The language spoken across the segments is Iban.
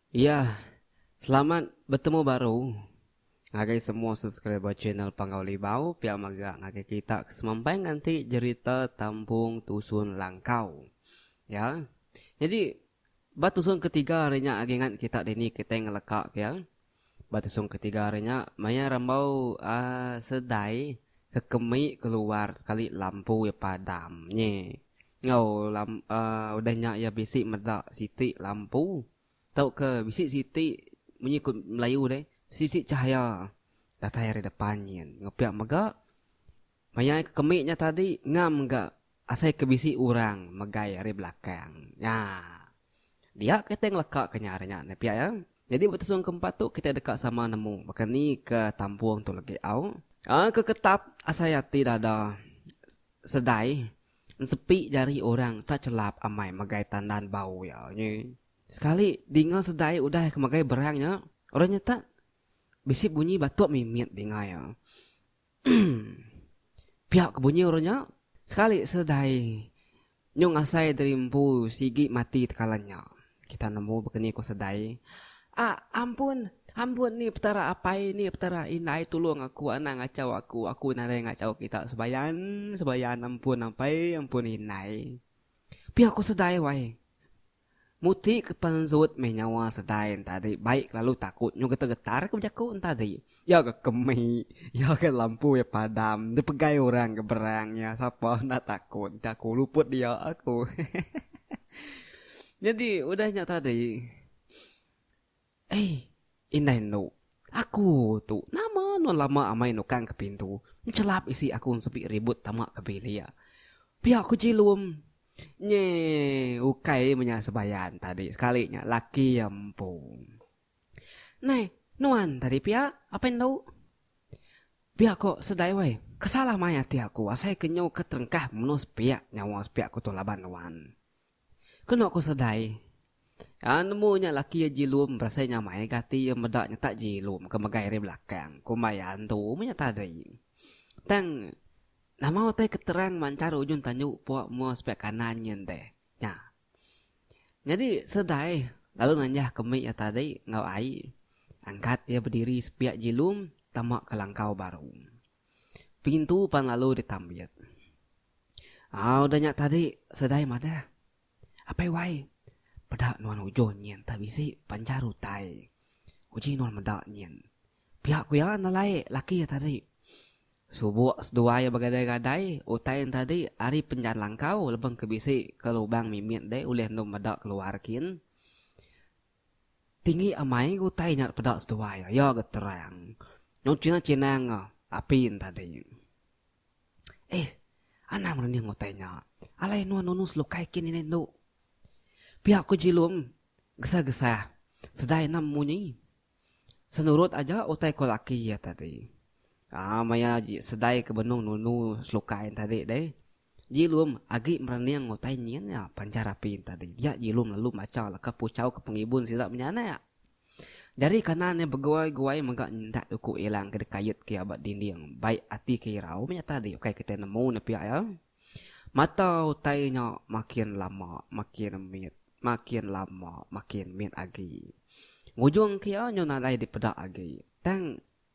Iya, selamat betemu baru ngagai semua subscriber channel Panggau Libau pia mega ngagai kita ke semampai nganti jerita Tambung Tusun Langkau. Iya. Nyadi ba tusun ketiga ari nya agi ngat kita dini kitai ngelekak iya. Ba tusung ketiga hari nya, maya rambau seledai ke kemi keluar sekali lampu iya padam nyi. Enggau udah nya iya bisi meda siti lampu tauka bisi siti munyi ku Melayu deh, siti chahaya datai ari depan nyin. Enggau pia mega. Maya ke kemik nya tadi ngam ga asai ke bisi urang megai ari belakang. Nya. Dia kitai ngeleka ke nya ari nya ne pia ya. Nyadi ba tusung ke empat tu kitai deka sama nemu baka ni ke tampung tu legi au. Au ke ketap asai ati dada sedai ensepi jari urang tak chelap amai megai tandan bau ya nyi. Sekali dinga sedai udah ke megai berang nya, urang nya tak bisi bunyi batok mimit dinga ya. Pia ke bunyi orang nya, sekali seledai nyung asai diri empu sigi mati tekalan nya. Kita nemu begeni ku seledai, A, ampun, ampun ni Petara apai, ni Petara indai tulung aku anang ngachau aku, aku nadai ngachau kita sebayan, sebayan ampun apai, ampun indai. Pia ku seledai wai. Muti ke panzut meh nyawa sedai entadi bai ke lalu takut nyau getar-getar ke bejaku entadi. Iya ke kemi, iya ke lampu iya padam dipegai orang ke berang iya sapa enda takut enti aku luput dia aku. Nyadi udah nya tadi. Ei, indai endo. Aku tu, nama nuan lama amai nukang ke pintu, nchelap isi aku nsepi ribut tama ke bilik. Pia ku Jilum. Nye ukai menya sebayan tadi sekali nya laki iya empu. Nai, nuan tadi pia apai endo. Pia ko Sedai wai, kesal amai ati aku asai ke nyu ke terengkah menus pia nyawa sepiak ku tu laban nuan. Keno ko Sedai. Iya nemu nya laki iya Jilum berasai nyamai ga ati iya meda nyetak Jilum ke megai ari belakang kumbai iya antu menya tadi. Tang nama utai ke terang manchar ujung tanju pok mua sepiak kanan nyin deh. Nya. Nyadi Sedai lalu nanjah ke mik iya tadi enggau ai angkat iya bediri sepiak Jilum tama ke langkau baru. Pintu pan lalu ditambit. Au udah nya tadi, Sedai madah. Apai wai, peda nuan ujung nyin tah bisi panjar utai. Uji nuan meda nyin. Pia ku iya enda lae laki iya tadi. Subuk seduai iya begadai-gadai, utai nya tadi ari penjar langkau lebeng ke bisi ke lubang mimit deh ulih endur meda keluar kin. Tinggi amai ga utai nya peda seduai ayo ga terang nyau chinang chinang ga apin tadi. Eh anang rening utai nya alai nuan nunu selukai kin ini endo. Pia ko jilum gesah gesah sedai enda munyi senurut aja utai ko laki iya tadi. Aa maya ji sedai ke benung nunu selukai tadi deh Jilum agi merening utai nyin nya panjara apin tadi dia Jilum lalu macha leka puchau ke pengibun sida menyanak. Jari kanan iya beguai-guai mega nyindak duku ilang ke dikayut ke iya ba dinding bai ati ke irau meh nya tadi ukai kitai nemu ne pia iya. Mata utai nya makin lama makin mit makin lama makin mit agi. Ngujung ke iya nyu nadai dipeda agi tang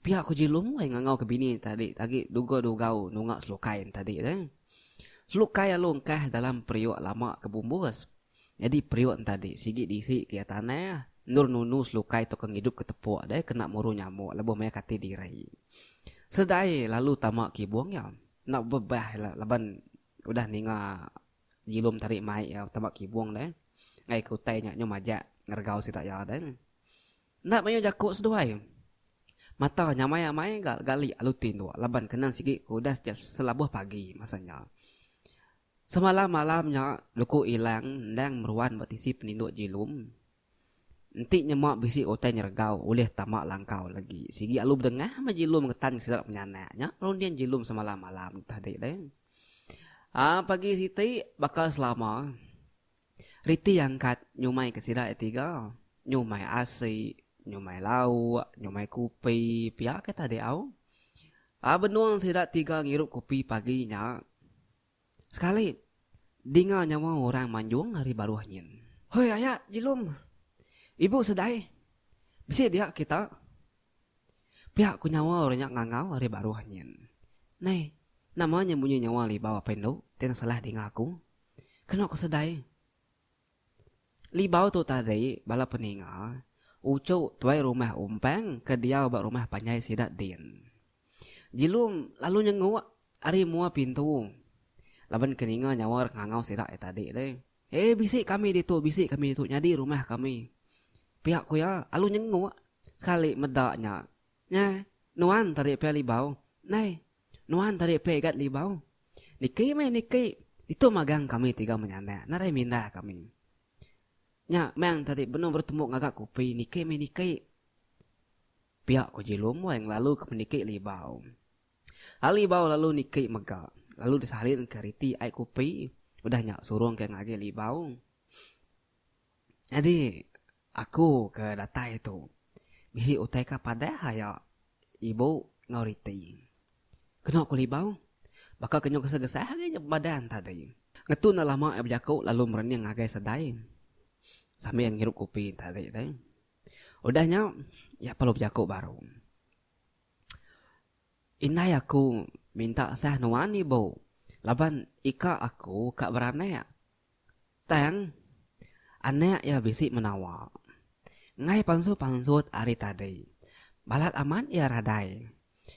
Pia ku Jilum ai ngangau ke bini tadi agi duga dugau nunga selukai entadi deh. Selukai alu engkah dalam periuk lama ke bumbus. Nyadi periuk entadi sigi diisi ke iya tanah endur nunu selukai tu ke ngidup ke tepuk deh kena muru nyamuk lebuh maya kati diri. Sedaie lalu tama ke ibung iya. Enda bebah ila laban udah ninga Jilum tadi mai iya tama ke ibung deh. Ngagai ke utai nya nyau majak ngeregau sida iya deh. Enda mayuh jaku seduai. Mata nyamai amai ga gali alu tin tu laban kena sigi ke udah setiap selabuh pagi masa nya. Semalam malam nya luku ilang endang meruan ba tisi peninduk Jilum. Enti nyema bisi utai nyeregau ulih tama langkau lagi. Sigi alu bedengah meh Jilum ngetan ke sida penyanak. Nya runding Jilum semalam malam tadi deh. Aa pagi siti baka selama. Reti angkat nyumai ke sida iya tiga, nyumai asi, nyumai lauk, nyumai kupi pia ke tadi au. Ba benung sida tiga ngirup kupi pagi nya, sekali dinga nyawa orang manjung ari baruh nyin. Hoi aya Jilum, ibu Sedai, bisi dia kita? pia ku nyawa orang nya ngangau ari baruh nyin. Nai, nama nya munyi nyawa libau apai endu ti enda salah dinga aku? Kenu ku sedai. Libau tu tadi bala peninga uchu tuai rumah Umpang ke diau ba rumah panjai sida din. Jilum lalu nyenguk ari mua pintu laban ke ninga nyawa orang ngangau sida ari tadi deh. Hei bisi kami ditu bisi kami ditu nyadi rumah kami. Pia ku iya lalu nyenguk sekali meda nya. Nyeh nuan tadi pia Libau. Nai. Nuan tadi peh igat libau. Niki meh niki, ditu magang kami tiga menyanak nadai minda kami. Nya meng tadi benung betemup ngaga kopi niki meh niki. Pia ko Jilum wai ngelalu ke peniki libau. Ari libau lalu niki mega, lalu disalin ke riti ai kopi, udah nya surung ke ngagi libau. Nyadi aku ke datai tu bisi utai ka padah aya ibu enggau reti. Kena ku libau baka ke nyau gesah-gesah agi nya badan tadi. Ngetu enda lama iya bejaku lalu merening ngagai sedai sambil ngirup kopi tadi deh. Udah nya iya perlu bejaku baru. Indai aku minta sah nuan ibu laban ika aku ka beranak Tang, anak iya bisi menawa. Enggai pansut-pansut ari tadi. Balat amat iya radai.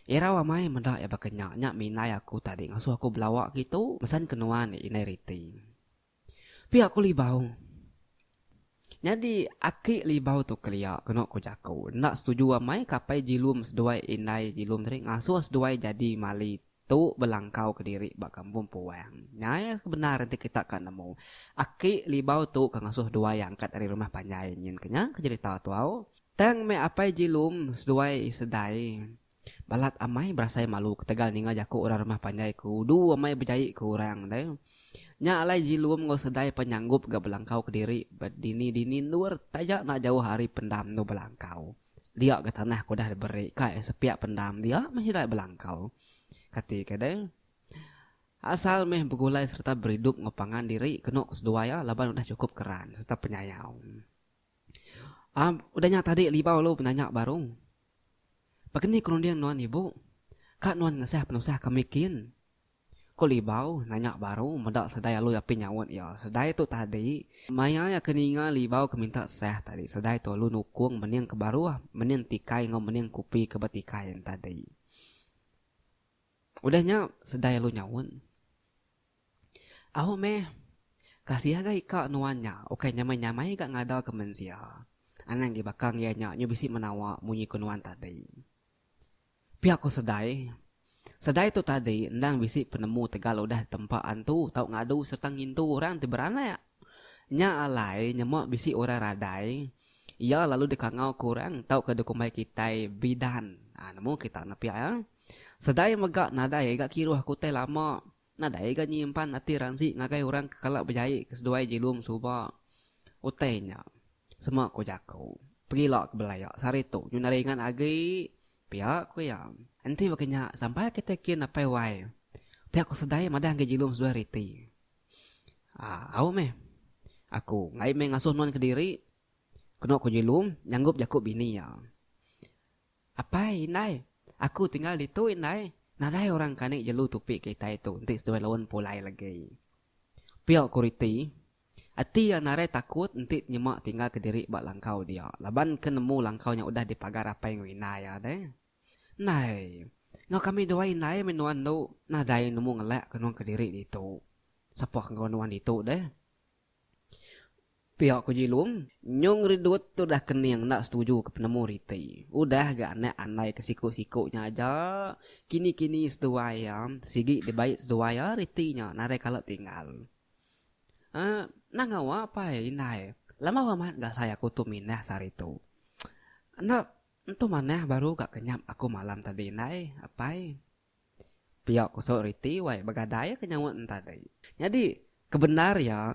Irau amai meda iya baka nya, nya mindai aku tadi ngasuh aku belawa ngitu mesan ke nuan indai riti. Pia ku Libau. Nyadi aki Libau tu kelia kenu ku jaku. Enda setuju amai kapai Jilum seduai indai Jilum tadi ngasuh seduai jadi mali Tu belangkau ke diri ba kampung Puang. Nyai ke bendar enti kita ka nemu. Aki Libau tu ke ngasuh Duai angkat ari rumah panjai nyin ke nya ke jerita tu au. Tang meh Apai Jilum seduai Isedai balat amai berasai malu ketegal ninga jaku orang rumah panjai ke udu amai bejai ke orang deh. Nya alai Jilum enggau Sedai pan nyanggup ga belangkau ke diri ba dini-dini endur taja enda jauh ari pendam tu belangkau. dia ga tanah ke udah diberi ka iya sepiak pendam dia meh hirai belangkau. Kati ke deh. Asal meh begulai sereta beridup enggau pangan diri kenu ke seduai iya laban udah chukup keran sereta penyayau. Am, udah nya tadi libau lu penanya baru. Begeni kerunding nuan ibu? Ka nuan ngesah penusah kami kin? Ko Libau nanya baru meda Sedai Alui api nyaut iya. Sedai tu tadi maya iya ke ninga Libau ke minta seh tadi. Sedai tu alu nukung mening ke baruh, mening tikai enggau mening kupi ke betikai nya tadi. Udah nya Sedai alu nyaut, Au meh, kasih ga ika nuan nya ukai nyamai-nyamai ga ngada ke mensia. Anang agi bakang iya nya nyu bisi menawa munyi ko nuan tadi. Pia ko Sedai, Sedai tu tadi endang bisi penemu tegal udah tempa antu tau ngadu serta ngintu orang ti beranak. Nya alai nyema bisi orang radai iya lalu dikangau ke orang tauka dikumbai kitai bidan. Nemu kita nya pia. Sedai mega nadai ga kiruh ke utai lama. Nadai ga nyimpan ati Ransi ngagai orang ke kala bejaie ke seduai Jilum suba utai nya. Sema ku jaku, pegila ke belaya sehari tu nyuna ringan agi pia ku iya. Enti baka nya sampai kitai kin apai wai. Pia ku Sedai madah ngagai Jilum seduai reti. Aa au meh. Aku ngai meh ngasuh nuan kediri. Kenu ku Jilum nyanggup jaku bini iya. Apai, indai. Aku tinggal ditu, indai. Nadai orang kani jelu tupi ke itai tu enti seduai laun pulai lagi. Pia ku Riti. Ati iya narai takut enti nyema tinggal kediri ba langkau dia laban ke nemu langkau nya udah dipagar apai enggau indai iya deh. Indai. Enggau kami duai indai meh nuan tu. Nadai nemu ngelak ke nuan kediri ditu. Sapa ke enggau nuan ditu deh. Pia ku Jilung, nyung Ridut tu dah kening enda setuju ke penemu riti. Udah ga anak andai ke siku-siku nya aja, kini-kini seduai iya sigi dibai seduai iya riti nya nadai kala tinggal. Emm, endang ngawa pai indai, lama amat ga sai aku tu mindah sehari tu. Enda entu manah baru ga kenyap aku malam tadi indai, apai. Pia kusok riti wai begadai ke nyaut entadi. Nyadi kebendar iya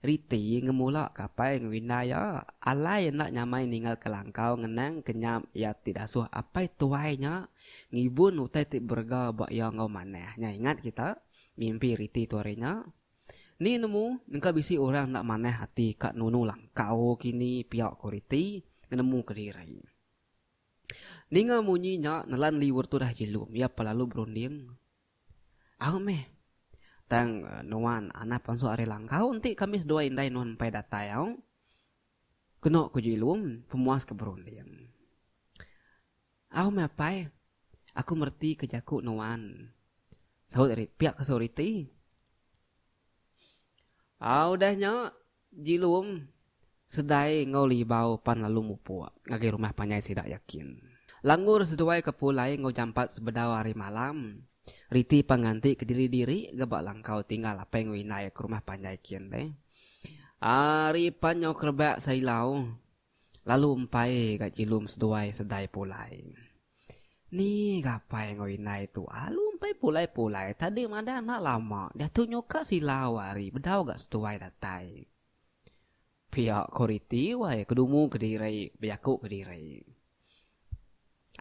riti ngemula ke apai enggau indai iya alai enda nyamai ninggal ke langkau ngenang ke nyam iya ti dasuh apai tuai nya ngibun utai ti berega ba iya enggau manah nya ingat kita mimpi riti tu hari nya ni nemu engka bisi orang enda manah ati ka nunu langkau kini pia ku riti nemu kediri. Ninga munyi nya nelan liur tudah Jilum iya pa lalu berunding, Au meh. Tang nuan Anap pansuk ari langkau enti kami seduai indai nuan empai datai au. Kenu ku Jilum pemuas ke berunding. Au meh apai, aku mereti ke jaku nuan. Saut Riti, pia ke saut Riti. Au udah nya. Jilum, Sedai enggau Libau pan lalu mupuk ngagai rumah panjai sida yakin. Langgur seduai ke pulai enggau jampat sebedau hari malam. Riti pan nganti ke diri-diri ga ba langkau tinggal apai enggau indai ke rumah panjai kin deh. Ari pan nyau kerebak seilau. lalu empai ga jilum seduai sedai pulai. Ni gapai enggau indai tu alu empai pulai-pulai tadi madah enda lama diatu nyuka sila ari bedau ga seduai datai. Pia ko riti wai ke dumu kediri bejaku kediri.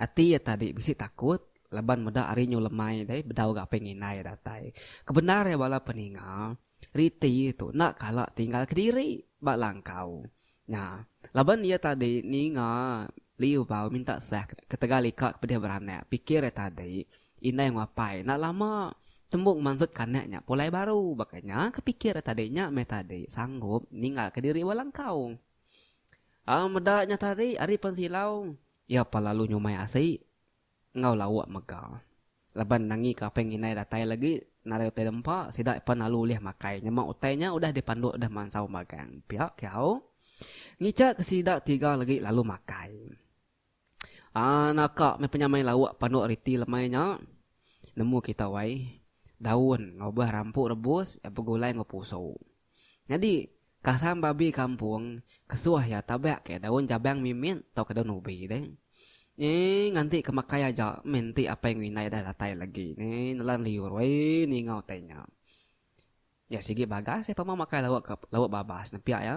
Ati iya tadi bisi takut laban meda ari nyu lemai deh bedau enggau apih ngindai iya datai. Kebendar iya bala peninga, riti tu enda kala tinggal kediri ba langkau nya laban iya tadi ninga liu bau minta sah ketegal ika ke pedih beranak. Pikir iya tadi indai enggau apai enda lama tembu ngemansut kanak nya pulai baru. Baka nya ke pikir iya tadi nya meh tadi sanggup ninggal kediri ba langkau. Au meda nya tadi ari pensilau iya pa lalu nyumai asi enggau lauk mega laban nangika aping indai datai lagi narai utai dempa sida pan lalu ulih makai nyema utai nya udah dipanduk deh mansau magang pia kiau ngicha ke sida tiga lagi lalu makai. Haa naka meh penyamai lauk panduk riti lemai nya. Nemu kita wai. Daun enggau buah rampu rebus iya begulai enggau pusu. Nyadi kasam babi kampung kesuh iya tabak ke daun jabang mimit tauka daun ubi deh. Nyi nganti ke makai aja meh enti apai enggau indai dah datai lagi ni nelan liur wai ninga utai nya. Iya sigi bagas iya pemau makai lauk babas ne pia iya.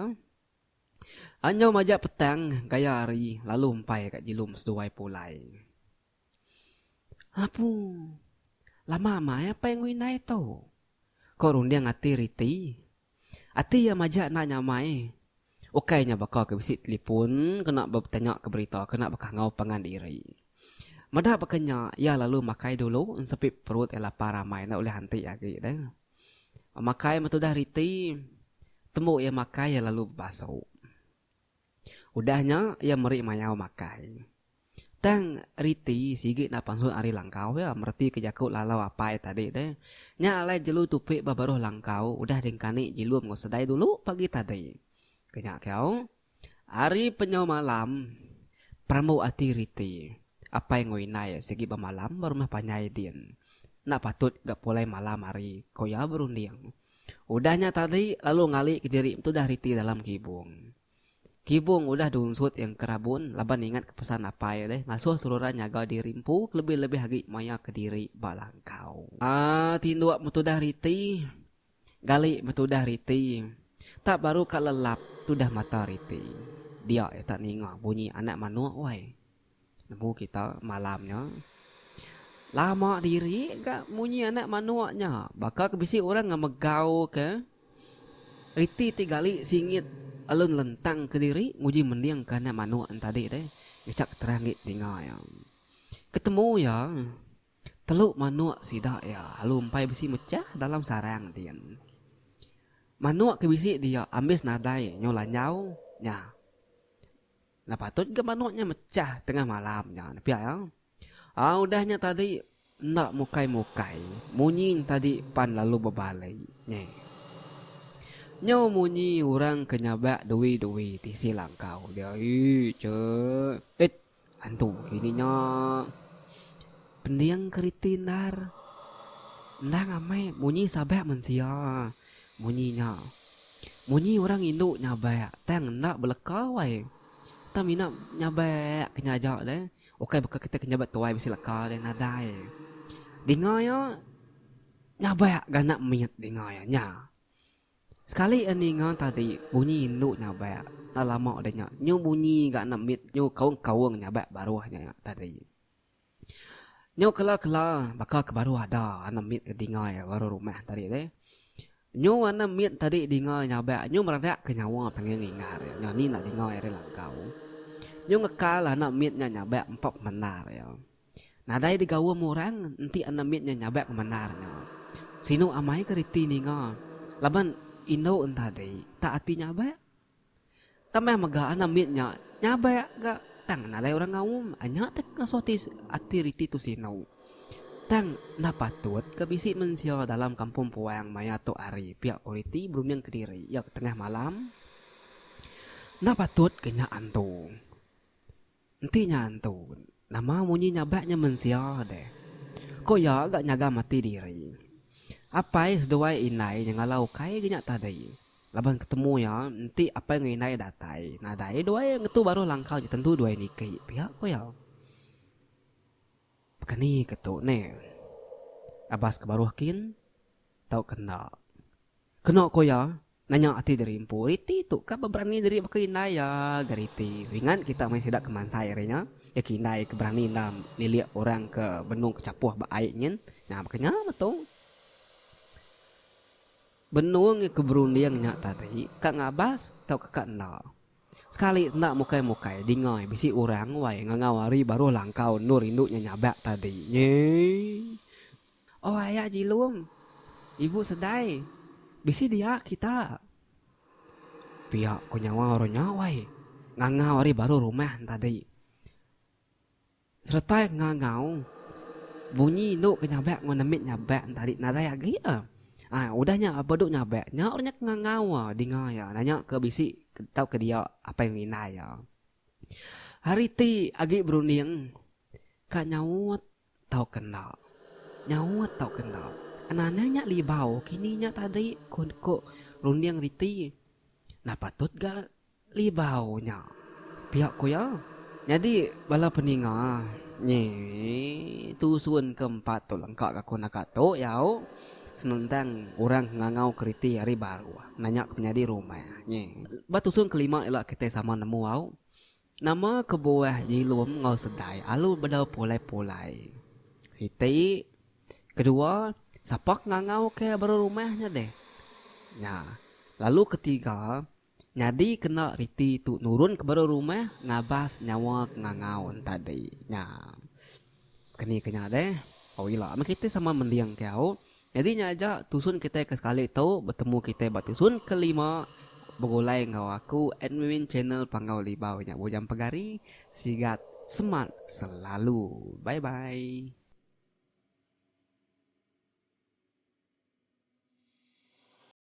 Anjau majak petang gaya hari lalu empai ka jilum seduai pulai. Apu, lama amai apai enggau indai tu, ko runding ati riti. Ati iya majak enda nyamai. Ukai nya baka ke bisi telipun kena betanya ke berita kena baka enggau pangan diri. Meda baka nya iya lalu makai dulu ensepit perut iya lapar amai enda ulih anti agi deh. Makai meh tudah riti. Tembu iya makai iya lalu bebasu. Udah nya iya meri mayau makai. Tang riti sigi enda pansut ari langkau iya meretika jaku lalau apai tadi deh. Nya alai jelu tupi ba baruh langkau udah dingkani jilum enggau sedai dulu pagi tadi. Ke nya kau. Ari penyau malam, perambu ati riti apai enggau indai sigi bemalam ba rumah panjai din. Enda patut ga pulai malam hari, ku iya berunding. Udah nya tadi lalu ngali ke diri betudah riti dalam kibung. Kibung udah diunsut iya ke rabun laban ingatka pesan apai deh ngasuh seruran nyaga diri empu kelebih-lebih agi maya kediri ba langkau. Tinduk betudah riti Gali betudah riti. Tak baru ka lelap tudah mata riti. Dia iya tak ninga bunyi anak manok wai. Nemu kita malam nya. Lama diri ga munyi anak manok nya. Baka ke bisi orang ngemegau ke riti ti gali singit lalu nelentang ke diri nguji mending ke anak manok nya tadi deh. Ngecak terang agi telinga iya. Ketemu iya. Telu manuk sida iya lalu empai bisi mechah dalam sarang din. Manuk ke bisi dia ambis nadai nyau lanjau nya. Enda patut ga manuk nya mechah tengah malam nya pia iya. Au udah nya tadi enda mukai-mukai munyi nya tadi pan lalu bebali nyi. Nyau munyi orang ke nyabak dui-dui tisi langkau dia. Ii cheh. Eit. Antu kini nya pending keriti endar. Endang amai munyi sabak mensia munyi nya. Munyi orang indu nyabak tang enda beleka wai. Tang mina nyabak ke nya aja deh. Ukai baka kita ke nyabak tuai bisi leka deh nadai. Dinga iya nyabak ganak mit dinga iya nya. Sekali a ninga tadi bunyi indu nyabak enda lama deh nya nyu bunyi ga enda mit nyu kaung-kaung nyabak baruh nya nya tadi. Nyu kela-kela baka ke baru ada enda mit ke dingai baru rumah tadi deh. Nyu enda mit tadi dingai nyabak nyu meradak ke nyawa panggil ngingat iya nya ni enda dingai ari langkau. Nyu ngekal enda mit nya nyabak empa pemendar iya. Nadai digaum orang enti anak mit nya nyabak ngemandar nya. Sinu amai ke reti ninga laban indu entadi tak ati nyabak. Tambah mega anak mit nya nyabak ga tang nadai orang ngaum. Anya tak ngasuh ati ati reti tu sinu. Tang enda patut ke bisi mensia dalam kampung puang maya tu hari pia ko reti berunding kediri iya ke tengah malam. Enda patut ke nya antu. Enti nya antu, nama munyi nyabak nya mensia deh. Ko iya ga nyaga mati diri. Apai seduai indai nyengala ukai ga nya tadi. Laban ketemu iya enti apai enggau indai datai nadai duai ngetu baruh langkau nya tentu duai niki pia ko iya. Baka ni ke tu ne. Abas ke baruh kin tauka enda. Keno ko iya, nanya ati diri empu riti tu ka beberani diri baka indai iya ga riti. Ringan kita meh sida ke mansai ari nya. Iya ke indai ke berani enda nilik orang ke benung ke chapoh ba ai nyin. Nya baka nya meh tu. Benung ke berunding nya tadi ka ngabas tauka ka enda. Sekali enda mukai-mukai dingai bisi orang wai ngangau ari baruh langkau endur indu nya nyabak tadi. Nyii. Oh aya jilum. Ibu sedai. Bisi dia kita. Pia ko nyawa orang nya wai ngangau ari baruh rumah tadi. Seretai ngangau bunyi indu ke nyabak enggau nemit nyabak enti ari nadai agi iya. Ai udah nya ba duk nyabak nya udah nya ke ngangau iya dinga iya nya ke bisi tau ke dia apai enggau indai iya. Hari ti agi berunding ka nyaut tau ke enda. Nyaut tau ke enda. Anang nya libau kini nya tadi ku runding reti. Nah patut ga. Libau nya, pia ku iya. Nyadi bala peninga nyi tusun ke empat tu lengka ka ku naka tu yau senentang orang ngangau keriti ari baruh nanya ke penyadi rumah nyi. Ba tusun ke lima ila kitai sama nemu au nama kebuah Jilum enggau Sedai alu bedau pulai-pulai. Siti, kedua sapa ke ngangau ke baruh rumah nya deh. Nya, lalu ketiga Nyadi kena riti tu nurun ke baru rumah ngabas nyawa ke ngangau entadi nya. Keni ke nya deh, au ila meh kitai sama mending ke au. Nyadi nya aja tusun kitai ke sekali tu betemu kitai ba tusun ke lima begulai enggau aku admin channel Panggau Libau nya Bujang Pegari. Sigat semat selalu. Bye bye.